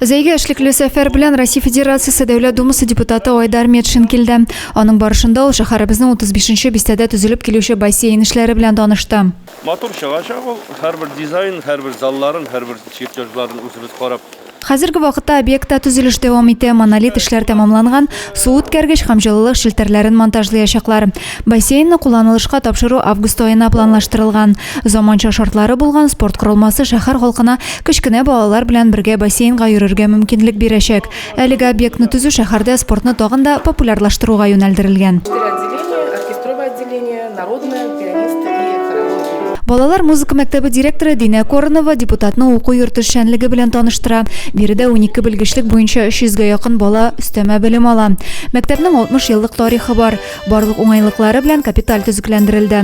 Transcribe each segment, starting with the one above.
Зәйгә эшлекле сәфәр белән Россия Федерациясе Дәүләт Думасы депутаты Айдар Метшин килде. Аның барышында ул шәһәребезнең 35 нче бистәдә төзелеп килүче бассейн эшләре белән танышты. Матур чыгачак ул. Һәрбер дизайн, һәрбер залларын, һәрбер чертежларын үзебез карап. Хәзерге вакытта объектта төзелеш дәвам итә. Монолит эшләр тәмамланган, су үткәргеч һәм җылылык челтәрләрен монтажлыячаклар. Бассейнны кулланылышка тапшыру август аена планлаштырылган. Заманча шартлары булган спорт корылмасы шәһәр халкына кечкенә балалар белән бергә бассейнга йөрергә мөмкинлек бирәчәк. Әлеге объектны төзү шәһәрдә спортны тагын да популярлаштыруга юнәлдерелгән. Балалар музыка мәктәбе директоры Динә Коронова депутатны уку йорты эшчәнлеге белән таныштыра. Биредә унике белгечлек буенча 300 гә якын бала өстәмә белем ала. Мәктәпнең 60 еллык тарихы бар. Барлык уңайлыклары белән капиталь төзекләндерелде.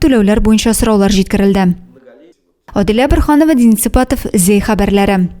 Түләүләр буенча сораулар җиткерелде. Адилә Борханова, Дин Сыпатов, Зәй хәбәрләре.